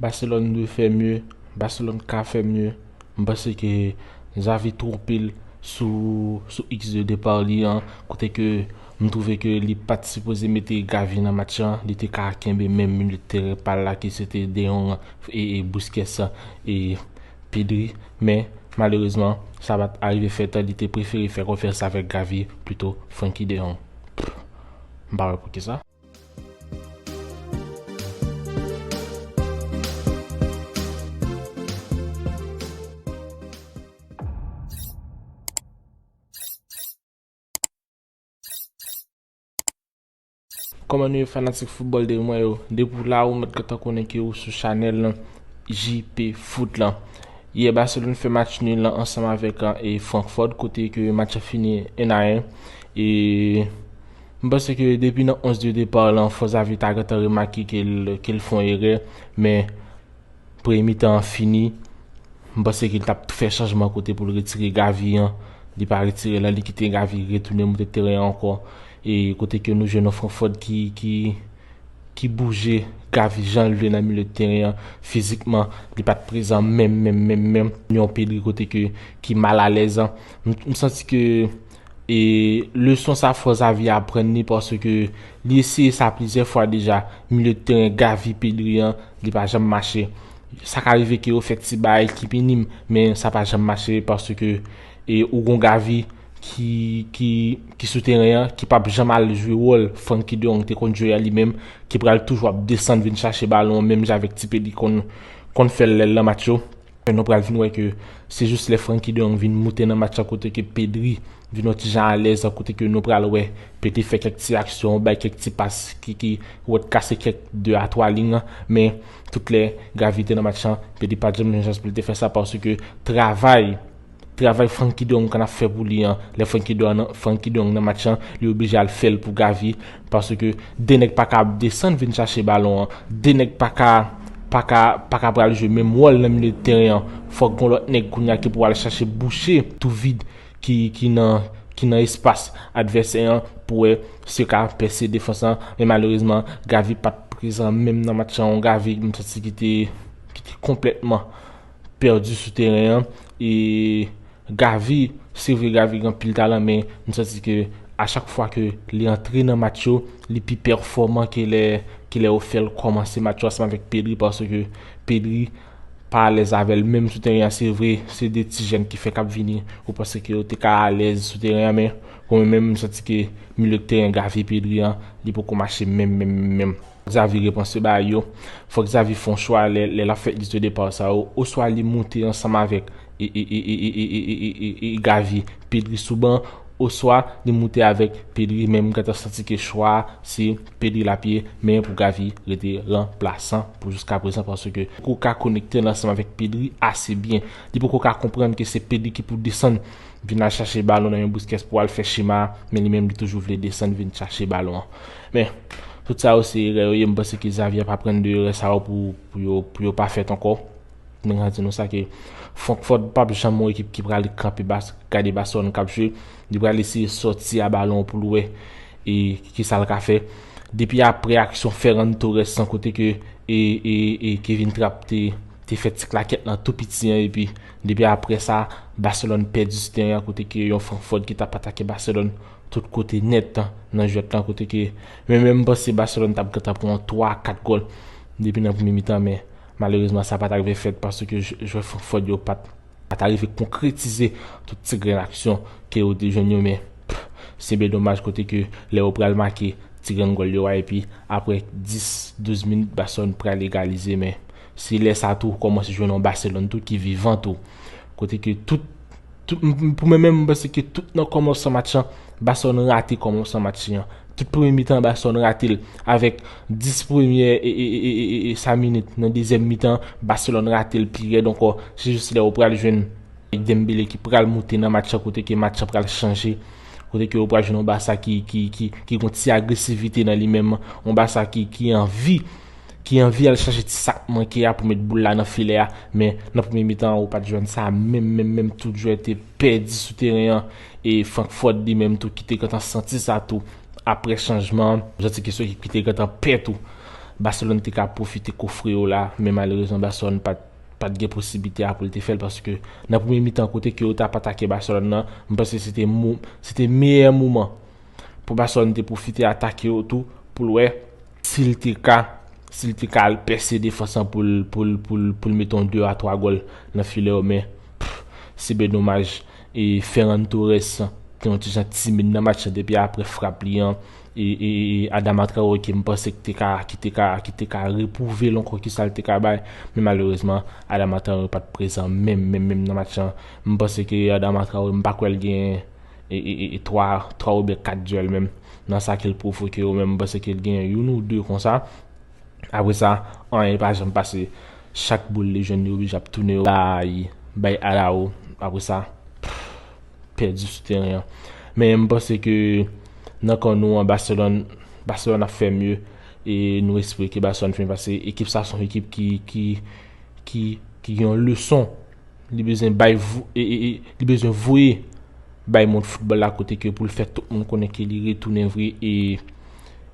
Barcelone dwe fè mye, Barcelone ka fè mye, m panse ke Xavi twonpe l sou sou risk de depart li an, kote ke m twouve ke li pat sipoze mete Gavi nan match lan, li te ka kenbe menm milye de teren pa l la ki se te De Jong e Busquets e Pedri, men malerezman sa pat arive fèt, li te prefere fè konfyans avèk Gavi pito Frenkie De Jong, pff m pa wè poukisa. Kòman nou ye fanatik football de mwen yo Depi w la ou mèt gentan konnen ke ou sou chanèl lan JP Foot lan Yè Barcelone fè match nul lan ansanm avèk Frankford kote ke match lan fini 1 a 1 E M panse ke depi nan 11 de depart lan fò Xavi ta gentan remake ke l fon erè men premye mitan an fini m panse ke l tap fè chanjman kote pou l retire Gavi an li pa retire l lan li kite Gavi retounen moute teren an ankò e kote ke nou jwenn yon Frankford ki bouje Gavi jan l vle nan milye de teren an fizikman li pat prezan menm menm menm menm yon Pedri kote ke ki mal alèz m santi ke E leson sa fò Xavi aprann li paske li eseye sa plizyè fwa deja, milye de teren Gavi, Pedri an, li pa janm mache. Sa ka rive ke yo fè ti bay ki minim, men sa pa janm mache paske e ou gon Gavi ki ki ki sou teren an, ki pap janm al jwe wòl Francky de Jong te konn jwe a li menm, ki pral toujou ap desann vin chache balon an menm jan avèk ti Pedri konn konn fè l lè l nan match yo. Men nou pral vin wè ke se jis lè Frenkie de Jong vin moute nan match la kote ke Pedri vin yon ti jan alèz kote ke nou pral wè Pedri fè kèk ti aksyon, bay kèk ti pas ki ki wèk kase kèk 2 a 3 liy an men tout lè Gavi te nan match la Pedri pat janm jwenn chans pou li te fè sa paske travay Travay Franky Duncan ap fè pou li an lè Franky Donan Franky Dong nan match lan li oblije al fèl pou Gavi paske 2 nèg paka ap desann vin chache balon an 2 nèg paka paka paka pral jwe menm wòl nan milye tèren an fòk gon lòt nèg kounya ki pou al chache bouche tou vid ki ki nan ki nan espas advèsè an pou wè si yo ka pèse defans lan men malerezman Gavi pat prezan menm nan match lan yon Gavi m santi ki te ki te konplètman pèdi sou teren an e Gavi se vre Gavi gen anpil talan men m santi ke a chak fwa ke li antre nan match yo li pi pèfòman ke lè ke lè yo fèl kòmanse match yo ansanm avèk Pedri paske Pedri pa alèz avèl menm sou teren an se vre se 2 ti jèn ki fèk ap vini ou panse ke yo te ka alèz sou teren an men pou mwen menm m santi ke milieu de terrain Gavi Pedri an li poko mache menm menm menm. Xavi repanse bagay yo. Fòk Xavi fè yon chwa lè lap fè liste de départ sa yo. Oswa li moute ansanm avèk Gavi, Pedri sou ban. Oswa li moute avèk Pedri men m gentan santi ke chwa a se Pedri lap ye men pou Gavi rete ranplasan pou jiska prezan paske li poko ka konekte ansanm avèk Pedri ase byen. Li poko ka konprann ke se Pedri ki pou desann vin al chache balon nan men Busquets pou al fè chema a men li menm li toujou vle desann vin chache balon an. Men, tout sa yo se erè yo ye, m panse ke Xavi ap aprann de erè sa yo pou yo pa fèt ankò. Mwen ka di nou sa ke Frankfurt pap janm yon ekip ki prale kanpe bas, gade Barcelone kap jwe, li prale eseye sòti a balon pou l wè e ki sa l ka fè. Depi apre aksyon Ferran Torres an kote ke e Kevin Trapp te fè ti klakèt lan tou piti an epi depi apre sa Barcelone pèdi ti teren an kote ke yon Frankfurt ki tap atake Barcelone Tout kote nèt nan jwèt lan kote ke mwen menm m panse Barcelone tap gentan pran yon 3 a 4 gòl depi nan premye mitan men malerezman sa pat arive fèt paske jwè Frankfort yo pat arive konkretize tout ti grenn aksyon ke yo te jwenn yo men se byen domaj kote ke lè yo pral make ti grenn gòl yo a epi aprè 10 12 minit Barcelone pral egalize men se lè sa tou ou kòmanse jwenn yon Barcelone tou ki vivan tou kote ke tout Pou mwen menm, mwen panse ke tout nan kòmansan match lan, Barcelone rate kòmansan match li an. Tout premye mitan an Barcelone rate l. Avèk 10 premye e sa minit nan dezyèm mitan an, Barcelone rate l pi rèd ankò. Se jis lè ou pral jwenn Dembele ki pral moute nan match lan kote ke match lan pral chanje. Kote ke ou pral jwenn yon Barça ki gen yon ti agresivite nan li menm. Yon Barça ki anvi. ki anvi al chache ti sak manke a pou met boul la nan filè a men nan premye mitan an ou pat jwenn sa menm menm menm tout jwè te pèdi sou teren an e Frankfort li menm tou ki te gentan santi sa tou aprè chanjman an janti ki sou ekip ki te gentan pè tou Barcelone te ka pwofite kofre yo la men malerezman Barcelone pat pat gen posiblite a poul te fèl paske nan premye mitan kote ke yo tap atake Barcelone nan m panse se te mou se te meyè moman pou Barcelone te pwofite atake yo tou poul wè Si l te ka, si l te ka al pèse defans lan pou l, pou l, pou l, pou l mete yon 2 a 3 gòl nan filè yo men, pff, se byen domaj. E Ferran Torres te yon ti jan timid nan match lan depi aprè frap li an. E, e, e Adama Traoré ke m panse ki te ka, ki te ka, ki te ka repwouve l ankò kisa l te ka bay. Men malerezman, Adama Traoré pa t prezan menm, menm, menm nan match lan. M panse ke Adama Traoré m pa kwè l gen e 3 oubyen 4 dyòl menm nan sa ke l pwovoke yo menm m panse ke l gen youn ou 2 konsa apre sa anyen pa janm pase chak boul li jwenn li oblije ap tounen yo bay bay Arawo apre sa pèdi sou teren an men m panse ke nan kan nou an Baselòn Baselòn ap fè mye e nou espere ke Baselòn fè mye paske ekip sa son ekip ki ki ki gen yon leson Li bezwen bay li bezwen voye bay mond foutbòl la kote ke pou l fè tout moun konnen ke li retounen vre e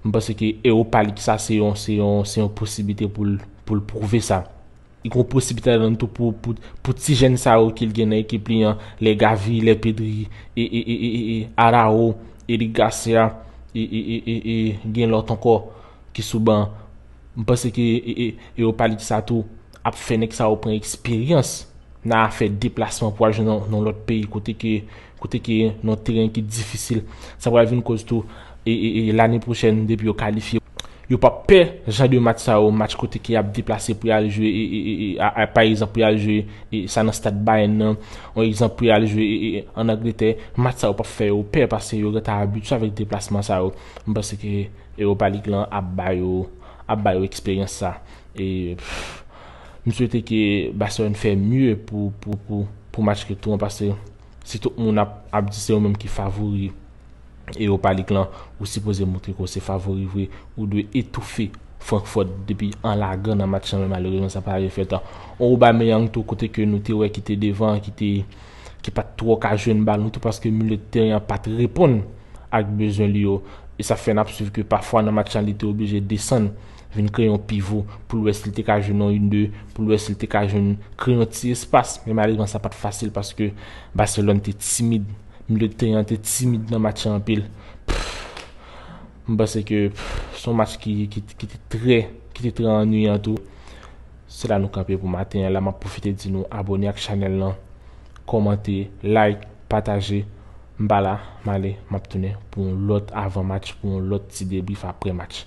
m panse ke Europa League sa se yon se yon se yon posiblite pou l pou l pwouve sa. Li gen yon posiblite ladann tou pou pou ti jèn sa yo ke l gen nan ekip li an, lè Gavi, lè Pedri e e e e e Arao, Eric Garcia e e e e e gen lòt ankò ki sou ban. M panse ke e e Europa League sa tou ap fè nèg sa yo pran eksperyans nan afè deplasman pou al jwe nan yon lòt peyi kote ke kote ke yon teren ki difisil sa pral vin koz tou lane pwochèn depi yo kalifye yo pap pè jan de match sa yo match kote ke yap deplase pou yal jwe pa egzanp pou yal jwe sa nan stad Bayern nan yon egzanp pou yal jwe an Angletè match sa yo pap fè yo pè paske yo gentan abitye avèk deplasman sa yo m panse ke Europa League lan ap ba yo ap ba yo eksperyans sa. E m swete ke Barcelone fè mye pou match retou an paske si tout moun ap di se yo menm ki favori Europa League lan, ou sipoze moutre ke w se favori vre, ou dwe etoufe Frankfurt depi an lagan nan match lan men malerezman sa pa rive fèt. On Aubameyang tou kote ke nou te wè ki te devan an ki pat twò ka jwenn balon tou paske milye de teren an pat reponn ak bezwen li yo e sa fè n ap swiv ke pafwa nan match lan li te oblije desann. vin kreye yon pivo pou l wè si l te ka jwenn yon 1, 2, pou l wè si l te ka jwenn kreye yon ti espas, men malerezman sa pa t fasil paske Barcelone te timid, milieu de terrain an te timid nan match an anpil. M panse ke se yon match ki te trè ki te trè annuyan tou. Se la nou kanpe pou maten an la, m ap pwofite di nou abone ak chanèl lan, kòmante, like, pataje. M pa la, m ale, m ap tounen pou yon lòt avan match, pou yon lòt ti debrief aprè match.